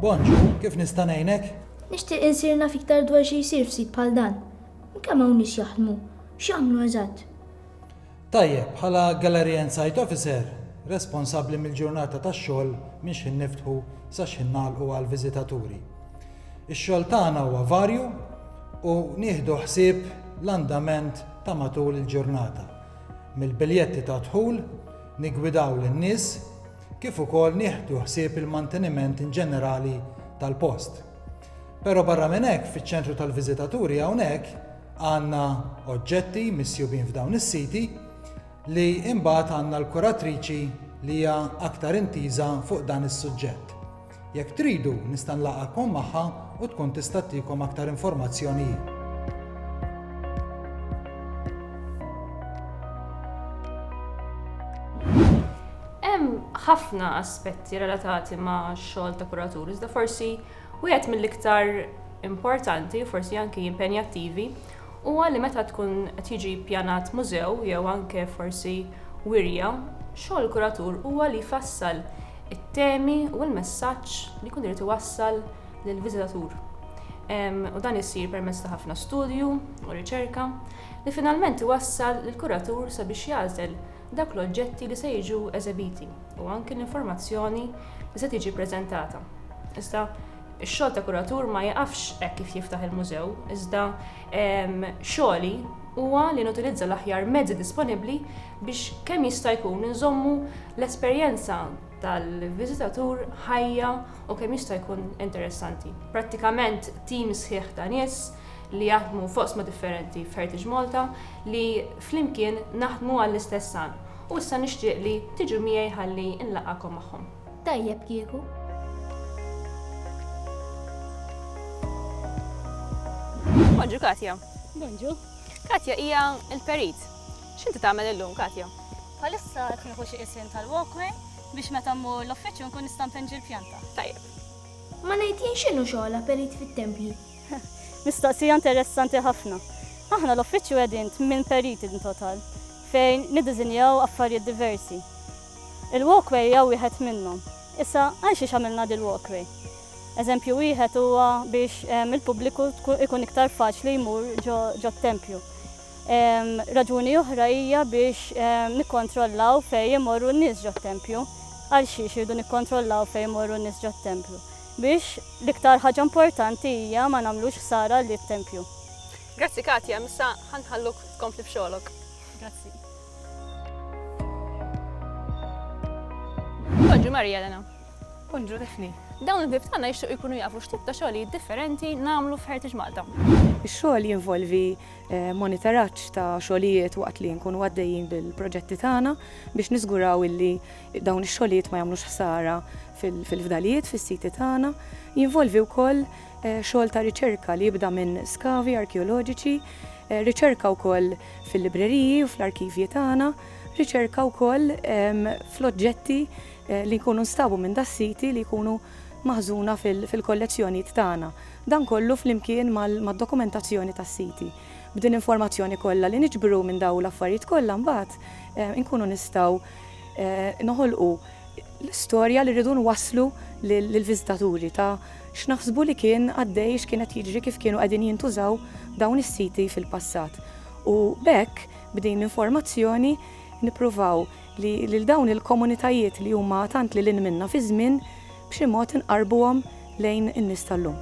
Bonġu, kif nista' ngħinek? Nixtieq insir naf iktar dwar xi jsir f'sit bħal dan. Kemm hawn nies jaħdmu? X'jagħmlu eżatt? Tajjeb, bħala Gallery and Site Officer, responsabbli mill-ġurnata tax-xogħol minn xħin niftħu sa xħin nagħlqu għall-viżitaturi. Ix-xogħol tagħna huwa varju u nieħdu ħsieb l-andament ta' matul il-ġurnata. Mill-biljetti ta' dħul niggwidaw lin-nies kif ukoll nieħdu ħsieb il-manteniment inġenerali tal-post. Però barra minn hekk fiċ-ċentru tal-viżitaturi hawnhekk għandna oġġetti misjubin f'dawn is-siti li imbagħad għandna l-kuratriċi li hija aktar intiża fuq dan is-suġġett. Jekk tridu, nista' nlaqgħakom magħha u tkun tista' ttikom aktar informazzjoni hi. Hemm ħafna aspetti relatati ma' xogħol ta' kuratur, iżda forsi wieħed mill-iktar importanti, forsi anki impenjattivi, huwa li meta tkun qed jiġi ppjanat mużew jew anke forsi wirja, xogħol kuratur huwa li jfassal it-temi u l-messaġġ li jkun irid iwassal lill-viżitatur. U dan isir permezz ta' ħafna studju u riċerka li finalment iwassal lill-kuratur sabiex jagħżel dawk l-oġġetti li se jiġu eżebiti u anki l-informazzjoni li se tiġi ppreżentata. Iżda Ix-xogħol ta' kuratur ma jiqafx hekk kif jiftaħ il-mużew, iżda xogħli huwa li nutilizza l-aħjar mezzi disponibbli biex kemm jista' jkun inżommu l-esperjenza tal-viżitatur ħajja u kemm jista' jkun interessanti. Prattikament tim sħiħ ta' nies li jaħdmu f'oqsma differenti f'Heritage Malta li flimkien naħdmu għall-istess għan u issa nixtieq li tiġu miegħi ħalli nlaqgħakom magħhom. Tajjeb kieku. Bonġu Katja. Bonġu. Katja hija l-perit. X'inti tagħmel illum Katja? Palissa qed nieħu xi isien tal-walkway biex meta mmur l-uffiċċju nkun nista' npenġi l-pjanta. Tajjeb. Ma ngħid jien x'inhu xogħla perit fit-tempji. Mistoqsija interessanti ħafna. Aħna l-uffiċċju qegħdin minn periti in total fejn niddiżinjaw affarijiet diversi. Il-walkway hija wieħed minnhom. Issa, għal xiex għamilna dil-walkway? Eżempju wieħed huwa biex il-pubbliku ikun iktar faċli jmur ġo t-tempju. Raġuni oħra hija biex nikkontrollaw fejn imorru n-nies ġo t-tempju. Għal xiex irridu nikkontrollaw fejn imorru n-nies ġo t-tempju? Biex l-iktar ħaġa importanti hija ma nagħmlux ħsara lit-tempju. Grazzi Katia, issa ħa nħalluk tkompli b'xogħlok. Grazzi. Bonġu Marija Elena. Bonġu Difni. Dawn il-vib tagħna jixtiequ jkunu jafu x'tip ta' xogħlijiet differenti nagħmlu f'Heritage Malta. Ix-xogħol jinvolvi eh, monitoraġġ ta' xogħlijiet waqt li nkunu għaddejjin bil-proġetti tagħna biex niżguraw illi dawn ix-xogħlijiet ma jagħmlux ħsara fil-fdalijiet fis-siti tagħna. Jinvolvi wkoll xogħol ta' riċerka li jibda minn skavi arkeoloġiċi, riċerka wkoll fil-libreriji u fl-arkivji tagħna, riċerka wkoll fl-oġġetti li jkunu nstabu minn das-siti li jkunu maħżuna fil-kollezzjonijiet tagħna. Dan kollu flimkien mad-dokumentazzjoni tas-siti. B'din l-informazzjoni kollha li niġbru minn dawn l-affarijiet kollha mbagħad inkunu nistgħu noħolqu l-istorja li rridu nwasslu lill-viżitaturi ta' X'naħsbu li kien għaddej, x'kien qed jiġri, kif kienu qegħdin jintużaw dawn is-siti fil-passat. U b'hekk, b'din l-informazzjoni, nippruvaw li lil dawn il-komunitajiet li huma tant lil hinn minna fiż-żmien, b'xi mod inqarrbuhom lejn in-nies tal-lum.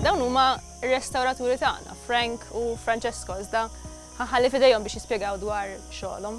Dawn huma r-restawraturi tagħna, Frank u Francesco, iżda ħa nħalli f'idejhom biex jispjegaw dwar xogħolhom.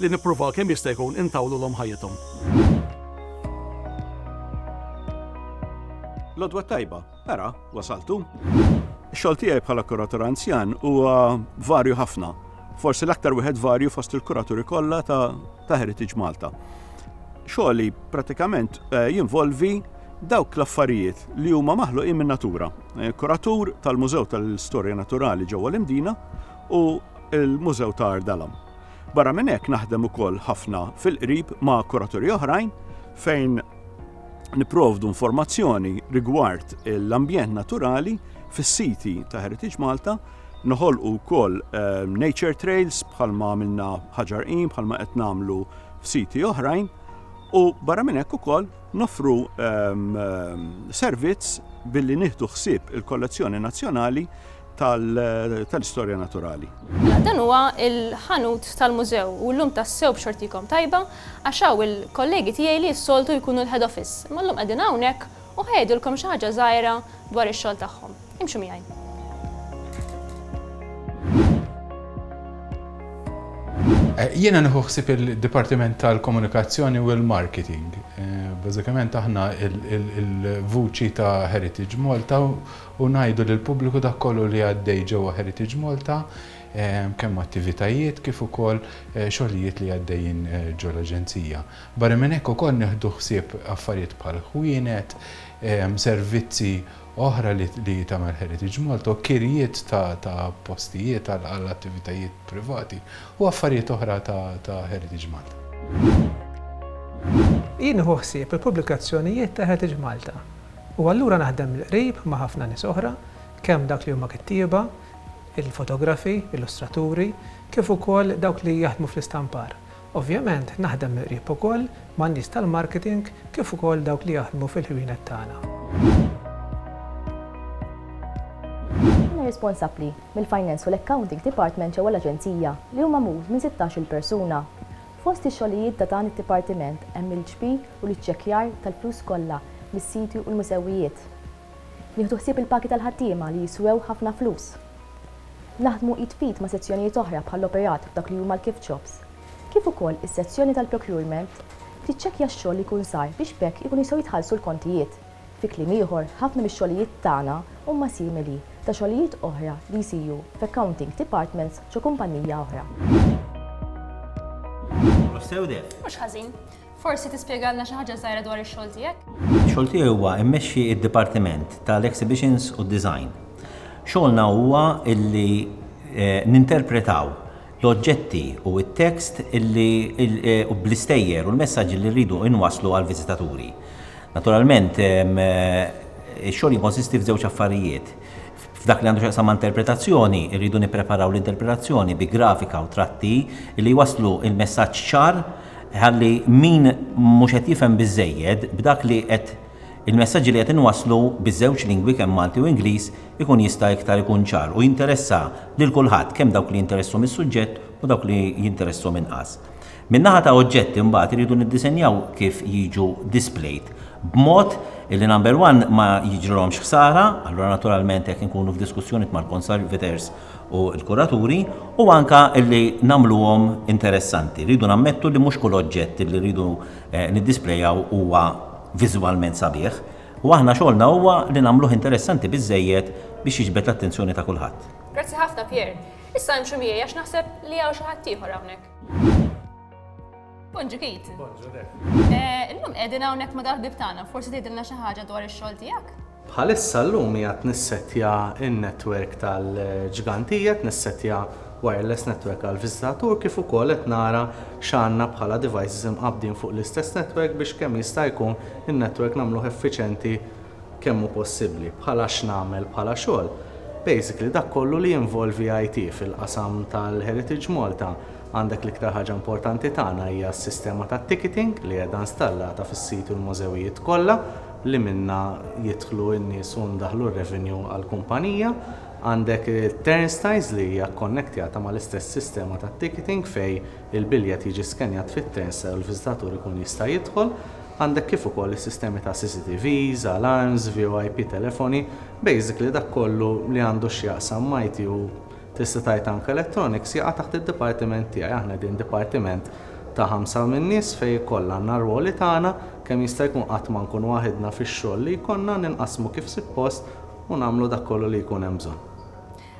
li nippruvaw kemm jista' jkun intawlulhom ħajjithom. L-għodwa tajba, ara, wasaltu. Xogħol tiegħi bħala kuratur anzjan huwa varju ħafna. Forsi l-aktar wieħed varju fost il-kuraturi kollha ta', ta Heritage Malta. Xogħli pratikament eh, jinvolvi dawk l-affarijiet li huma maħluqin minn natura. Eh, kuratur tal-Mużew tal-Istorja Naturali ġewwa l-Imdina u l-Mużew ta' Ardalam. Barra minn hekk naħdem ukoll ħafna fil-qrib ma' kuraturi oħrajn fejn niprovdu informazzjoni rigward l-ambjent naturali fis-siti ta' Heritage Malta, noħolqu wkoll eh, nature trails bħalma għamilna ħaġar qim, bħalma qed nagħmlu f'siti oħrajn, u barra minn hekk ukoll nofru ehm, ehm, servizz billi nieħdu ħsieb il-kollezzjoni nazzjonali tal-istorja naturali. Dan huwa l-ħanut tal-mużew u llum tassew b'xortikom tajba għax hawn il-kollegi tiegħi li s-soltu jkunu l-head office imma llum qegħdin hawnhekk u ħa jgħidulkom xi ħaġa żgħira dwar ix-xogħol tagħhom. Imxu miegħi. Jiena nieħu ħsieb il-Dipartiment tal-Komunikazzjoni u l-Marketing. Bażikament aħna l-vuċi ta' Heritage Malta u ngħidu lill-pubbliku dak kollu li għaddej ġewwa Heritage Malta, kemm attivitajiet kif ukoll xogħlijiet li għaddejjin ġol-Aġenzija. Barra minn hekk ukoll nieħdu ħsieb affarijiet bħal ħwienet, servizzi oħra li tagħmel Heritage Malta u kirjiet ta' postijiet għal attivitajiet privati u affarijiet oħra ta' Heritage Malta. Jien nieħu ħsieb il-pubblikazzjonijiet ta' Heritage Malta U allura naħdem mill-qrib ma' ħafna nies oħra, kemm dawk li huma kittieba, il-fotografi, illustraturi, kif ukoll dawk li jaħdmu fl-istampar. Ovvjament naħdem mill-qrib ukoll man-nies tal-marketing kif ukoll dawk li jaħdmu fil-ħwienet tagħna. Jiena responsabbli mill-Finance u l-Accounting Department ġewwa l-Aġenzija, li hu magħmul minn sittax-il persuna. Fost ix-xogħlijiet ta' dan id-dipartiment hemm il-ġbir u l-iċċekkjar tal-flus kollha mis-siti u l-mużewijiet. Nieħdu ħsieb il-pagi tal-ħaddiema li jiswew ħafna flus. Naħdmu id f'id ma' sezzjonijiet oħra bħall-operat f'dak li huma l-gift shops. Kif ukoll is-sezzjoni tal-procurement tiċċekkja x-xogħol li jkun sar biex b'hekk ikunu jistgħu jitħallsu l-kontijiet. Fi kliem ieħor, ħafna mix-xogħlijiet tagħna huma simili ta' xogħlijiet oħra li jsiru f'accounting departments ġo kumpannija oħra. Mhux sew deh. Mhux ħażin. Forsi tispjegalna xi ħaġa żgħira dwar ix-xogħol tiegħek? Ix-xogħol tiegħi huwa immexxi d-dipartiment tal-exhibitions u d-design. Xogħolna huwa illi eh, ninterpretaw l-oġġetti u t-tekst li u bl-istejjer u l-messaġġi li rridu inwasslu għall-viżitaturi. Naturalment, ix-xogħol jikkonsisti f'żewġ affarijiet. F'dak li għandu x'jaqsam ma' interpretazzjoni, irridu nippreparaw l-interpretazzjoni bi grafika u tratti li jwasslu l-messaġġ ċar ħalli min mhux qed jifhem biżżejjed b'dak li qed il-messaġġi li qed inwasslu biż-żewġ lingwi kemm Malti u Ingliż ikun jista' iktar ikun ċar u jinteressa lil kulħadd, kemm dawk li jinteresshom is-suġġett u dawk li jinteresshom inqas. Min-naħa ta' oġġetti mbagħad irridu niddisenjaw kif jiġu displayed b'mod illi number one ma jiġrilhomx ħsara, allura naturalment hekk inkunu f'diskussjoniet mal-conservators u l-kuraturi, u anke illi nagħmluhom interessanti. Rridu nammettu li mhux kull oġġett illi rridu niddisplayaw huwa viżwalment sabiħ. U aħna xogħolna huwa li nagħmluh interessanti biżżejjed biex jiġbed l-attenzjoni ta' kulħadd. Grazzi ħafna Pierre. Issa imxu miegħi għax naħseb li hawn xi ħadd ieħor hawnhekk. Bonġu Keith. Bonġu Def. Eh, illum qegħdin hawnhekk ma' dal-bib tagħna, forsi tgħidilna xi ħaġa dwar ix-xogħol tiegħek? Bħalissa llum hija tnissettja n-netwerk tal-ġgantijiet, nissettja wireless network għall-viżitatur kif ukoll qed nara x'għandna bħala devices imqabbdin fuq l-istess network biex kemm jista' jkun in-network nagħmluh effiċjenti kemm hu possibbli. Bħala x'nagħmel bħala xogħol? Basically dak kollu li jinvolvi IT fil-qasam tal-Heritage Malta għandek l-iktar ħaġa importanti tagħna hija s-sistema tat-ticketing li qiegħda installata fis-sit u l-mużewijiet kollha li minnha jidħlu n-nies u ndaħħlu r-revenue għall-kumpanija. Għandek it-turnstiles li hija kkonnektjata mal-istess sistema tat-ticketing fejn il-biljett jiġi skennjat fit-turnstile u l-viżitatur ikun jista' jidħol. Għandek kif ukoll is-sistemi ta' CCTVs, alarms, VOIP telefoni, basically dak kollu li għandu x'jaqsam m'IT u tista' tgħid anke electronics jaqa' taħt id-dipartiment tiegħi. Aħna qegħdin dipatiment ta' ħamsa minn nies fejn ikoll għandna r-rwoli tagħna, kemm jista' jkun qatt ma nkun waħidna fix-xogħol li jkollna, ninqasmu kif sippost u nagħmlu dak kollu li jkun hemm bżonn.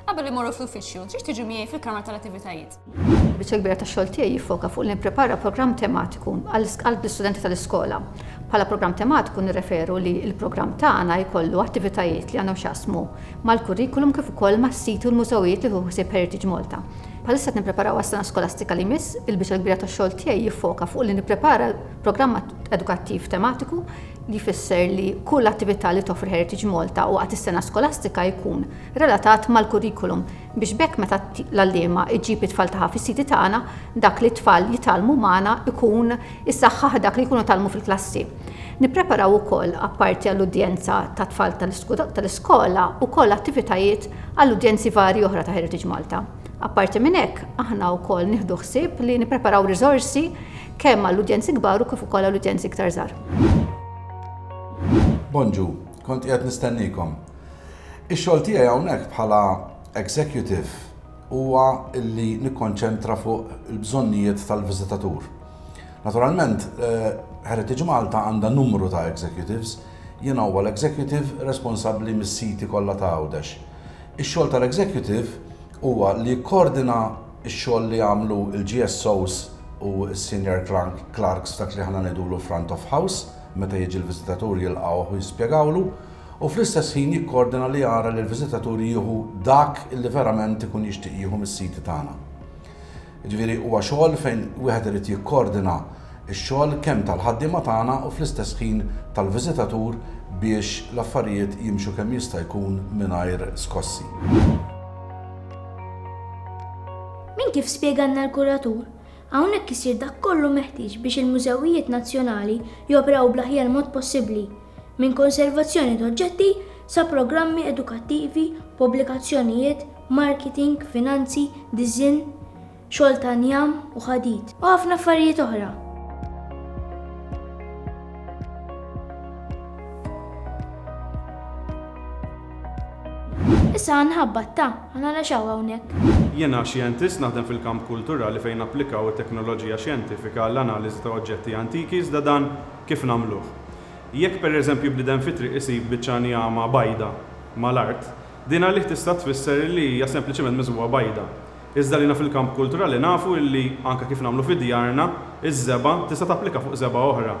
Qabel immorru fl-uffiċċju, trid tiġi miegħi fil-kamra tal-attivitajiet. Il-biċċa l-kbira tax-xogħol tiegħi jiffoka fuq li nipprepara programm tematiku għall-istudenti tal-iskola. Bħala programm tematiku nirreferu li l-programm tagħna jkollu attivitajiet li għandhom x'jaqsmu mal-kurrikulum kif ukoll mas-siti u l-mużewijiet li jieħu ħsieb Heritage Malta. Bħalissa qed nippreparaw għas-sena skolastika li jmiss, il-biċċa l-kbira tax-xogħol tiegħi jiffoka fuq li nipprepara l-programm edukattiv tematiku li jfisser li kull attività li toffri Heritage Malta waqt is-sena skolastika jkun relatat mal-kurrikulum biex b'hekk meta l-għalliema ġġib it-tfal tagħha fis-siti tagħna, dak li t-tfal jitgħallmu magħna jkun isaħħaħ dak li jkunu tgħallmu fil-klassi. Nippreparaw ukoll, apparti għall-udjenza tat-tfal tal-iskola, ukoll attivitajiet għal udjenzi varji oħra ta' Heritage Malta. Apparti minn hekk, aħna wkoll nieħdu ħsieb li nippreparaw riżorsi, Kemm għall-udjenzi kbar u kif ukoll għall-udjenzi iktar żgħar. Bonġu, kont qiegħed nistennikom. Ix-xogħol tiegħi hawnhekk bħala executive huwa li nikkonċentra fuq il-bżonnijiet tal-viżitatur. Naturalment, eh, Heritage Malta għandha numru ta' executives, jien huwa l-executive responsabbli mis-siti kollha ta' Għawdex. Ix-xogħol tal-executive huwa li jikkordina Ix-xogħol li għamlu l-GSOs u s-Senior Clerks dak li aħna ngħidulu front of house, meta jiġi l-viżitatur jilqgħuh u jispjegawlu, u fl-istess ħin jikkoordina li jara li l-viżitatur jieħu dak li verament ikun jixtieq jieħu mis-siti tagħna. Jiġifieri huwa xogħol fejn wieħed irid jikkoordina ix-xogħol kemm tal-ħaddiema tagħna u fl-istess ħin tal-viżitatur biex l-affarijiet jimxu kemm jista' jkun mingħajr skossi. Minn kif spjegalna l-kuratur, hawnhekk isir dak kollu meħtieġ biex il-mużewijiet nazzjonali joperaw bl-aħjar mod possibbli, minn konservazzjoni t'oġġetti sa programmi edukattivi, pubblikazzjonijiet, marketing, finanzi, diżinn, xogħol ta' njam u ħadid, u ħafna affarijiet oħra. Issa għanħabba ta' għana naxaw għawnek. Jena xjentist naħdem fil-kamp kulturali fejn applikaw it-teknoloġija xjentifika għall-analiżi ta' oġġetti antiki iżda dan kif nagħmluh. Jekk pereżempju bniedem fi triq isib biċċa njama bajda mal-art, din għalih tista' tfisser li hija sempliċiment miżwugħa bajda. Iżda għalina fil-kamp kulturali nafu illi, anke kif nagħmlu fi djarna, iż-żebgħa tista' tapplika fuq żebgħa oħra.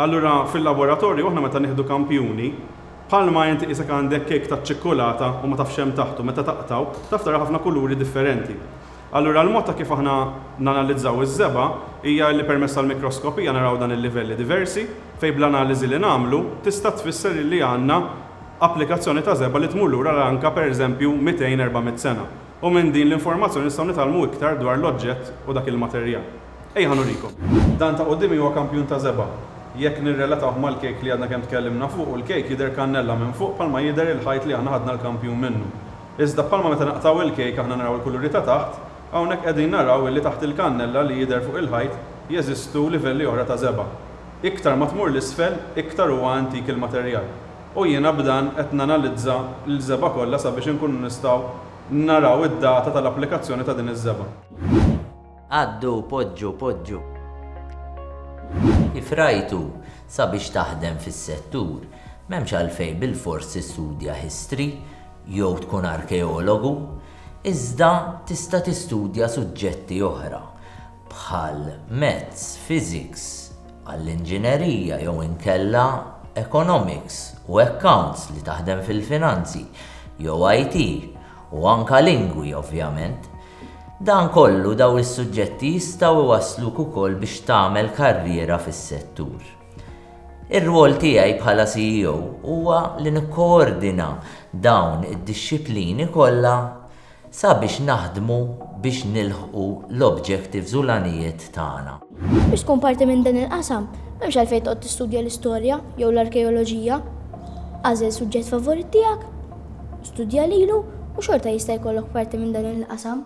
Allura fil-laboratorju aħna meta nieħdu kampjuni, bħalma inti qisek għandek kejk taċ-ċikkulata u ma tafx x'hemm taħtu, meta taqtgħu, taf tara ħafna kuluri differenti. Allura l-mod ta' kif aħna nanalizzaw iż-żebgħa hija illi permezz tal-mikroskopija naraw dan il-livelli diversi, fejn bl-analiżi li nagħmlu tista' tfisser illi għandna applikazzjoni ta' żebgħa li tmur lura għal anke pereżempju 200, 400 sena. U minn din l-informazzjoni nistgħu nitgħallmu iktar dwar l-oġġett u dak il-materjal. Ejja nurikom. Dan ta' quddiemi huwa kampjun ta' żebgħa. Jekk nirrelatawh mal-kejk li għadna kemm tkellimna fuqu, l-kejk jidher kannella minn fuq bħalma jidher il-ħajt li aħna ħadna l-kampjun minnu. Iżda bħalma meta naqtgħu il-kejk aħna naraw il-kuluri ta' taħt, hawnhekk qegħdin naraw illi taħt il-kannella li jidher fuq il-ħajt jeżistu livelli oħra ta' żebgħa. Iktar ma tmur 'l isfel, iktar huwa antik il-materjal. u jiena b'dan qed nanalizza l-żebgħa kollha sabiex inkunu nistgħu naraw id-data tal-applikazzjoni ta' din iż-żebgħa. Għaddu, poġġu, poġġu. Kif rajtu, sabiex taħdem fis-settur, m'hemmx għalfejn bilfors tistudja history jew tkun arkeologu, iżda tista' tistudja suġġetti oħra. bħal Maths, Physics, għall-Inġinerija jew inkella Economics u Accounts li taħdem fil-finanzi jew IT u anke Lingwi ovvjament. Dan kollu dawn is-suġġetti jistgħu jwassluk ukoll biex tagħmel karriera fis-settur. Ir-rwol tiegħi bħala CEO huwa li nikkoordina dawn id-dixxiplini kollha sabiex naħdmu biex nilħqu l-objectives u l-għanijiet tagħna. Biex tkun parti minn dan il-qasam, m'hemmx għalfejn toqgħod tistudja l-istorja jew l-arkeoloġija. Agħżel suġġett favorit tiegħek, studja lilu u xorta jista' jkollok parti minn dan il-qasam.